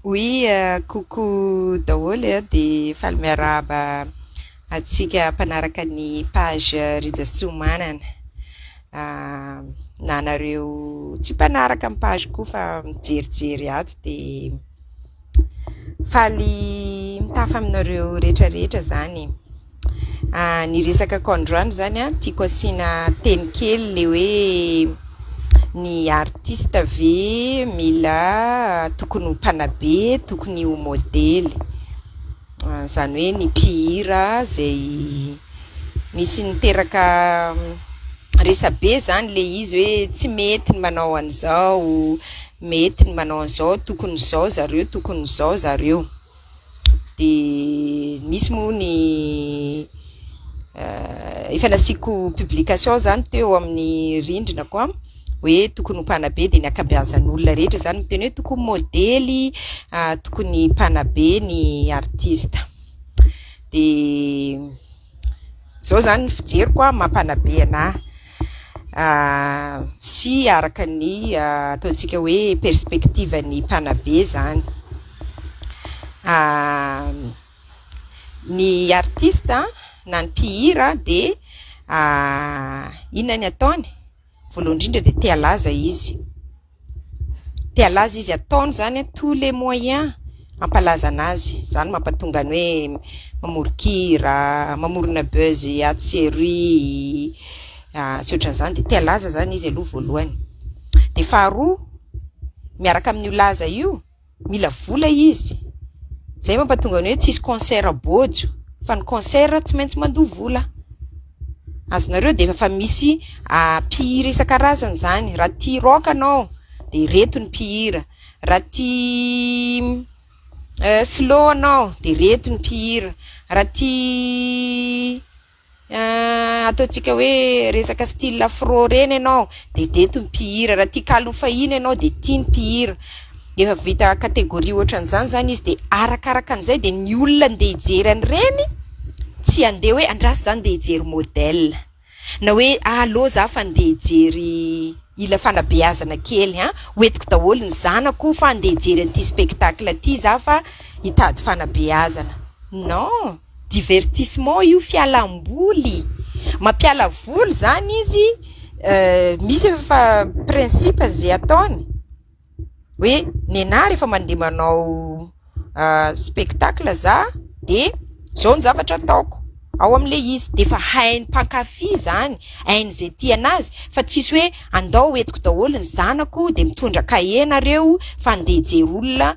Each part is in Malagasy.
Oui coucou daholo eh dia faly miarahaba antsika mpanaraka ny page Rija Siomanana na anareo tsy mpanaraka ny page ko fa mijerijery ato de faly mitafa aminareo retraretra zany eh. Ny resakako androany zany an, tiako asiana teny kely le hoe ny artiste ve mila tokony ho mpanabe, tokony ho modely, zany hoe ny mpihira zay misy niteraka resabe zany le izy hoe tsy mety ny manao an'izao, mety ny manao an'izao, tokony izao zareo, tokony izao zareo. dia misy moa ny eh, efa nasiako publication zany teo amin'ny rindrinako a hoe tokony ho mpanabe dia ny akabeazan'olona rehetra zany miteny hoe tokony modely ah, tokony mpanabe ny artista dia Izao izany ny fijeriko an, mampanabe ana sy araka ny ataontsika hoe perspective ny mpanabe izany. Ny artiste na ny mpihira dia inona ny ataony? Voalohany indrindra dia te halaza izy. Te halaza izy, ataony izany tous les moyens hampalazana azy. Izany mampatonga ny hoe mamoron-kira, mamorona buzz atsy sy eroy sy ohatran'izany. Dia te halaza izany izy aloha voalohany. Dia faharoa, miaraka amin'io laza io. mila vola izy, izay mampatonga ny hoe tsy hisy concert bojo fa ny concert tsy maintsy mandoa vola, azonareo dia efa misy mpihira isan-karazany izany, raha tia rock ianao dia ireto ny mpihira, raha tia slow ianao dia ireto ny mpihira, raha tia Ahh ataontsika hoe resaka style afro reny ianao de dety ny mpihira, raha tia kalo fahiny ianao de tia ny mpihira, efa vita categorie ohatran'izany zany izy de arakaraka an'izay de ny olona andeha hijery an'ireny tsy andeha hoe andraso za andeha hijery model na hoe allo za fa andeha hijery hila fanabeazana kely an! ho entiko daholo ny zanako fa andeha hijery an'ity spectacle ty za fa hitady fanabeazana non! divertissement io, fialam-boly, mampiala voly izany izy, misy efa principe izay ataony hoe nenah rehefa mandeha manao spectacle zah de zao ny zavatra ataoko ao amin'le izy de efa hain'ny mpankafy izany, hain'izay tia anazy fa tsy hoe andao entiko daholo ny zanako de mitondra kahie nareo fa andeha hijery olona.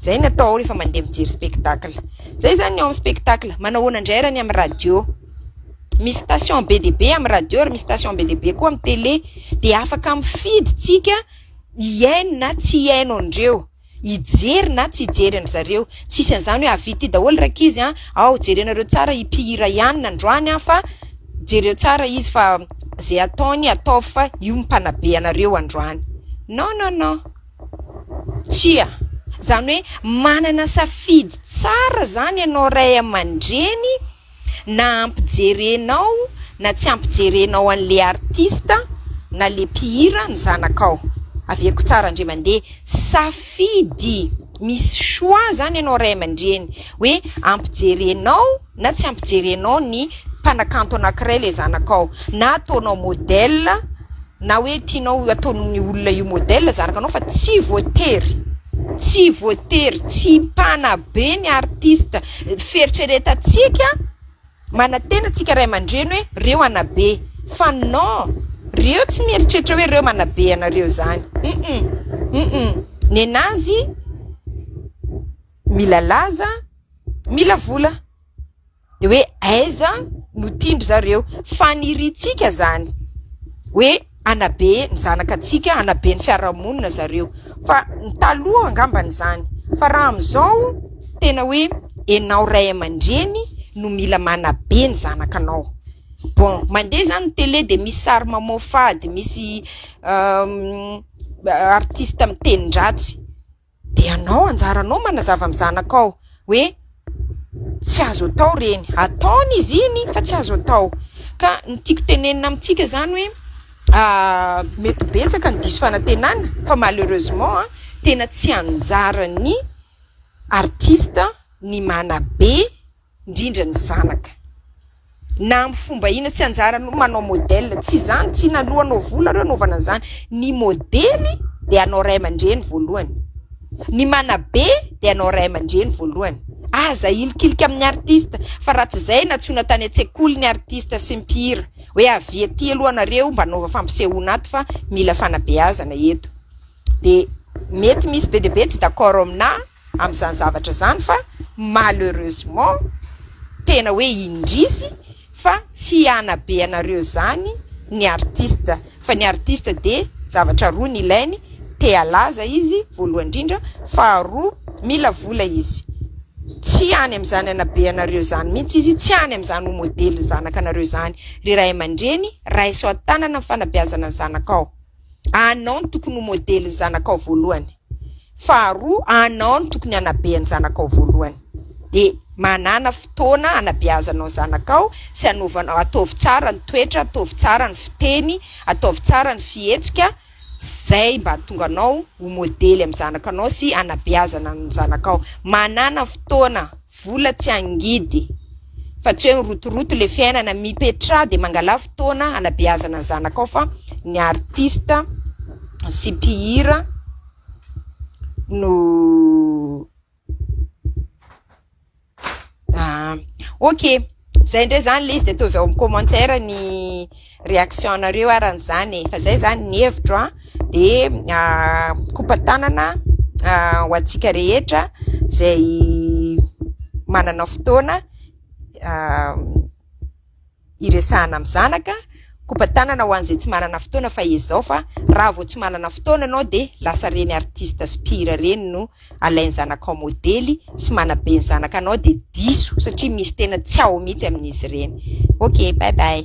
Izay no atao rehefa mandeha mijery spectacle. Izay izany ny ao amin'ny spectacle. Manao ahoana indray ary ny amin'ny radio? Misy station be dia be amin'ny radio ary misy station be dia be koa amin'ny tele. Dia afaka mifidy isika hihaino na tsy hihaino an'ireo, hijery na tsy hijery an-dry zareo. Tsy hisy an'izany hoe avidy ity daholo ry ankizy an! Ao, jerenareo tsara i mpihira i anona androany an! fa jereo tsara izy fa izay ataony ataovy fa io no mpanabe anareo androany. Non, non, non! Tsia. Izany hoe manana safidy tsara izany ianao ray aman-dreny na ampijerenao na tsy ampijerenao an'le artista na le mpihira ny zanakao. Averiko tsara ndry mandeha, safidy, misy choix izany ianao ray aman-dreny hoe ampijerenao. na tsy ampijerenao ny mpanakanto anankiray ilay zanakao na ataonao modèle na hoe tianao ho ataon'ny olona io modèle zanakanao fa tsy voatery tsy voatery tsy mpanabe ny artista fieritreretantsika manantena tsika ray aman-dreny hoe reo anabe fa non reo tsy mieritreritra hoe reo manabe anareo zany um nen'azy mila laza, mila vola. De hoe aiza no tian-dry zareo. Faniriantsika izany hoe hanabe ny zanaka antsika, hanabe ny fiarahamonina zareo. Fa ny taloha angambany izany. Fa raha amin'izao tena hoe ianao ray aman-dreny no mila manabe ny zanakanao. Bon, mandeha izany ny tele dia misy sary mamoafady, misy artista miteny-dratsy. Dia ianao, anjaranao manazava amin'ny zanakao hoe tsy azo atao ireny. Ataony izy iny fa tsy azo atao. Ka ny tiako tenenina amintsika izany hoe mety ho betsaka ny diso fanantenana fa malheureusement tena tsy anjaran'ny artista ny manabe. indrindra ny zanaka. Na amin'ny fomba inona, tsy anjaranao ny manao modèle, tsy izany, tsy naloa anao vola ireo anaovana an'izany. Ny modely dia anao ray aman-dreny voalohany. Ny manabe dia anao ray aman-dreny voalohany. Aza hilikilika amin'ny artista, fa raha tsy izay nantsoina tany an-tsekoly ny artista sy mpihira, hoe avia aty aloha nareo mba anaova fampisehoana ato fa mila fanabeazana eto. Dia mety misy be dia be tsy d'accord aminà. amin'izany zavatra izany fa malheureusement tena hoe indrisy fa tsy hanabe anareo izany ny artiste fa ny artiste dia zavatra roa ny ilainy te halaza izy voalohany indrindra faharoa mila vola izy tsy any amin'izany hanabe anareo izany mihitsy izy tsy any amin'izany ho modely ny zanaka anareo izany ry ray aman-dreny raiso an-tanana ny fanabeazana ny zanakao Anao no tokony ho modelin'ny zanakao voalohany. Faharoa, anao no tokony hanabe ny zanakao voalohany. Dia manàna fotoana hanabeazanao ny zanakao sy hanaovanao, ataovy tsara ny toetra, ataovy tsara ny fiteny, ataovy tsara ny fihetsika, izay mba hahatonga anao ho modely amin'ny zanakanao sy hanabeazana ny zanakao. Manàna fotoana Vola tsy hangidy. Fa tsy hoe mirotoroto le fiainana, mipetraha de mangala fotoana hanabeazana zanakao fa ny artiste sy mpihira no ah ok zay ndray zany le izy de ataovy ao amin'ny commentaire ny réaction anareo ary an'izany e, fa zay zany ny hevitro an, de mikopa tanana ho antsika rehetra zay manana fotoana hiresahana amin'ny zanaka, mikopa tanana ho an'izay tsy manana fotoana fa ezao fa raha vao tsy manana fotoana ianao de lasa reny artiste sy mpihira reny no alainy zanakao modely sy manabe ny zanakanao dia diso satria misy tena tsy ao mihitsy amin'izy ireny. Ok, bye bye.